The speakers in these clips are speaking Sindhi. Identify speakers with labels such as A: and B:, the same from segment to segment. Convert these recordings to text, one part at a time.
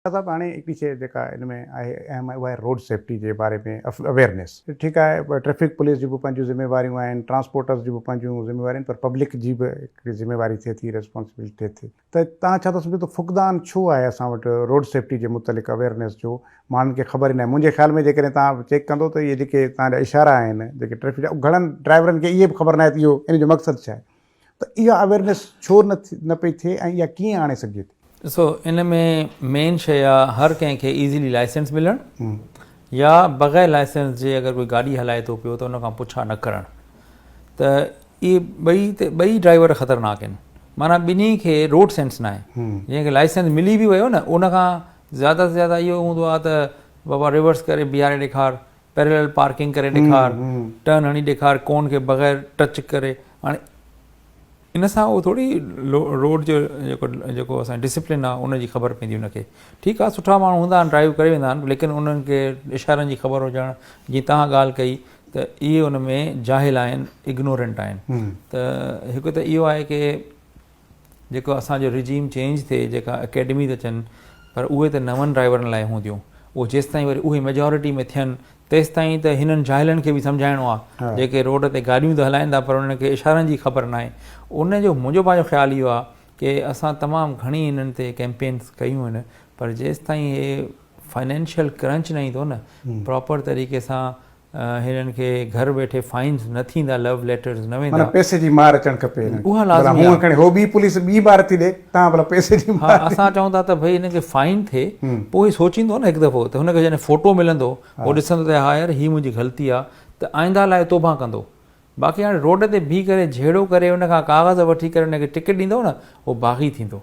A: شاهه صاحب هاڻي هڪڙي شيء جيڪا ان ۾ آهي اهم اها آهي روڊ سيفٽي جي باري ۾ اويئرنيس ٺيڪ آهي ٽريفڪ پوليس جون به پنهنجون ذميواريون آهن ٽرانسپورٽرز جون به پنهنجون ذميواريون آهن پر پبلڪ جي به هڪڙي ذميواري ٿئي ٿي ريسپانسبلٽي ٿئي ٿي ته تان ڇا ٿو سمجهو ته فقدان ڇو آهي اسان وٽ روڊ سيفٽي جي متعلق اويئرنيس جو ماڻهن کي خبر ئي ناهي منهنجي خيال ۾ جيڪڏهن تان چيڪ ڪندو ته اهي جيڪي تان جا اشارا آهن جيڪي ٽريفڪ جا گهڻن ڊرائيورن کي اهي به خبر ناهي ته اهو ان جو مقصد ڇا آهي ته اها اويرنيس ڇو نه پئي ٿئي ۽ اها ڪيئن آڻي سگهجي ٿي؟ ڏسو ان ۾
B: مين شيء آ هر ڪنهن کي ايزلي لائسنس ملڻ يا بغير لائسنس جي اگر ڪوئي گاڏي هلائي ٿو پيو ته ان کان پڇا نه ڪرڻ ته اهي ٻئي ته ٻئي ڊرائيور خطرناڪ آهن معنيٰ ٻنهي کي روڊ سينس ناهي جنهن کي لائسنس ملي به ويو نه ان کان زياده سان زياده اهو هوندو آ ته بابا ريورس ڪري بيهاري ڏيکار پيرلل پارڪنگ ڪري ڏيکار ٽرن هڻي ڏيکار ڪون کي بغير ٽچ ڪري هاڻي ان سان اهو ٿوري روڊ جو جيڪو جيڪو اسان ڊسپلن آ ان جي خبر پوندي ان کي ٺيڪ آ سٺا ماڻهو هوندا آهن ڊرائيو ڪري ويندا آهن ليڪن انهن کي اشارن جي خبر هجڻ جي تهان ڳالهه ڪئي ته اهي ان ۾ جاهل آهن اگنورنٽ آهن ته هڪ ته اهو آهي ڪي جيڪو اسان جو رجيم چينج ٿئي جيڪا اڪيڊمي ته اچن پر اهي ته نون ڊرائيورن لاء هونديون اهو جيستائين وري اهي ميجارٽي ۾ ٿين تيستائين ته هنن جاهلن کي به سمجهائڻو آ جيڪي روڊ تي گاڏيون ته هلائين ٿا پر انهن کي اشارن جي خبر ناهي ان جو منهنجو پنهنجو خيال اهو آ ڪي اسان تمام گهڻي هنن تي ڪيمپينس ڪيون آهن پر جيستائين اهي فنانشل ڪرنچ نه ايندو نه پراپر طريقي سان هنن کي گهر ويٺي فائنز نه ٿيندا لو ليٽرز نه ويندا. معنيٰ پئسي جي مار اچڻ
A: کپي هنن کي. اها لازمي آهي. ڀلا هونء کڻي
B: هو ٻي پوليس ٻي مار
A: ٿي ڏي تان ڀلا پئسي جي مار. ها اسان چئون ٿا ته ڀئي هنن
B: کي فائن ٿئي پوء هي سوچيندو نه هڪ دفعو ته هن کي جڏهن فوٽو ملندو هو ڏسندو ته ها يار هي منهنجي غلطي آ ته آئنده لاء توبه ڪندو باقي هاڻي روڊ تي بيهي ڪري جهيڙو ڪري ان کان ڪاغذ وٺي ڪري ان کي ٽڪيٽ ڏيندو نه هو باغي ٿيندو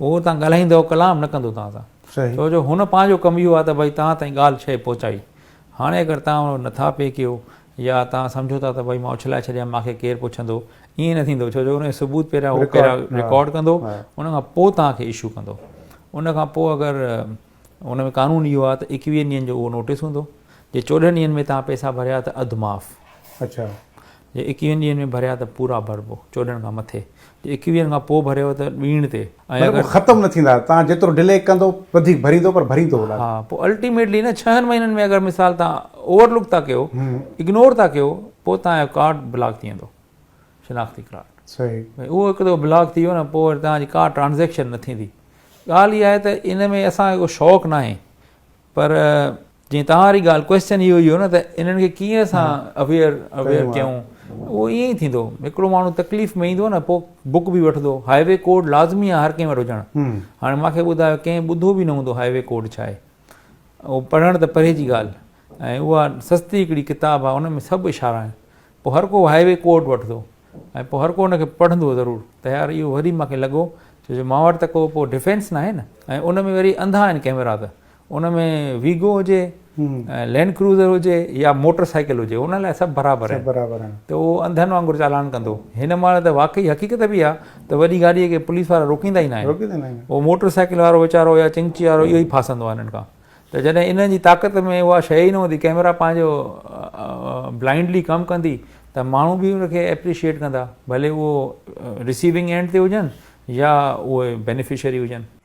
B: هو اتان ڳالهائيندو ڪلام نه ڪندو توهان سان صحيح ڇو جو هن پنهنجو ڪم اهو آهي ته ڀائي توهان تائين ڳالهه شيء پهچائي هاڻي اگر توهان ان نٿا پي ڪيو يا توهان سمجهو ٿا ته ڀائي مان اڇلائي ڇڏيان مان کي ڪير پڇندو ائين نه ٿيندو ڇو جو ان جو ثبوت پهريان هو پهريان رڪارڊ ڪندو ان کان پوء توهان کي اشو ڪندو ان کان پوء اگر ان ۾ قانون اهو آهي ته ايڪويهن ڏينهن جو اهو نوٽيس هوندو جي چوڏهن ڏينهن ۾ توهان پئسا ڀريا ته اڌ معاف اڇا جي ايڪويهن ڏينهن ۾ ڀريا ته پورا ڀربو چوڏهن کان مٿي جي ايڪويهن کان پوء ڀريو ته ڏينهن تي ۽ اگر ختم نه ٿيندا توهان
A: جيترو ڊلي ڪندو وڌيڪ ڀريندو پر ڀريندو اولاد ها پوء الٽيميٽلي
B: نه ڇهن مهينن ۾ اگر مثال توهان اوور لوڪ ٿا ڪيو اگنور ٿا ڪيو پوء توهان جو ڪارڊ بلاڪ ٿي ويندو شناختي ڪارڊ صحيح اهو هڪ دفعو بلاڪ ٿي ويو نه پوء وري توهان جي ڪا ٽرانزيڪشن نه ٿيندي ڳالهه اها آهي ته ان ۾ اسان کي ڪو شوق ناهي پر جيئن توهان واري ڳالهه ڪويسچن اهو ئي هو نه ته انهن کي ڪيئن اسان اويئر اويئر ڪيون اهو ائين ئي ٿيندو هڪڙو ماڻهو تڪليف ۾ ايندو نه پوء بڪ به وٺندو هاء وي ڪوڊ لازمي آهي هر ڪنهن وٽ هجڻ هاڻي مان کي ٻڌايو ڪنهن ٻڌو به نه هوندو هاء وي ڪوڊ ڇا آهي اهو پڙهڻ ته پري جي ڳالهه ۽ اها سستي هڪڙي ڪتاب آهي ان ۾ سڀ اشارا آهن پوء هر ڪو هاء وي ڪوڊ وٺندو ۽ پوء هر ڪو ان کي پڙهندو ضرور ته يار اهو وري مون کي لڳو ڇو جو مان وٽ ته ڪو پوء ڊفينس ناهي نه ۽ ان ۾ وري انڌا آهن ڪئميرا ته ان ۾ ويگو هجي لينڊ ڪروزر هجي يا موٽر سائيڪل هجي ان لاء سڀ برابر آهن ته اهو انڌن وانگر چالان ڪندو هن مهل ته واقعي حقيقت به آهي ته وڏي گاڏيء کي پوليس وارا روڪيندا ئي ناهن اهو موٽر سائيڪل وارو ويچارو يا چنگچي وارو اهو ئي ڦاسندو آهي انهن کان ته جڏهن انهن جي طاقت ۾ اها شيء ئي نه هوندي ڪئميرا پنهنجو بلائنڊلي ڪم ڪندي ته ماڻهو به ان کي اپريشيئيٽ ڪندا ڀلي اهو رسيونگ اينڊ تي هجن يا اهي بينيفشري هجن.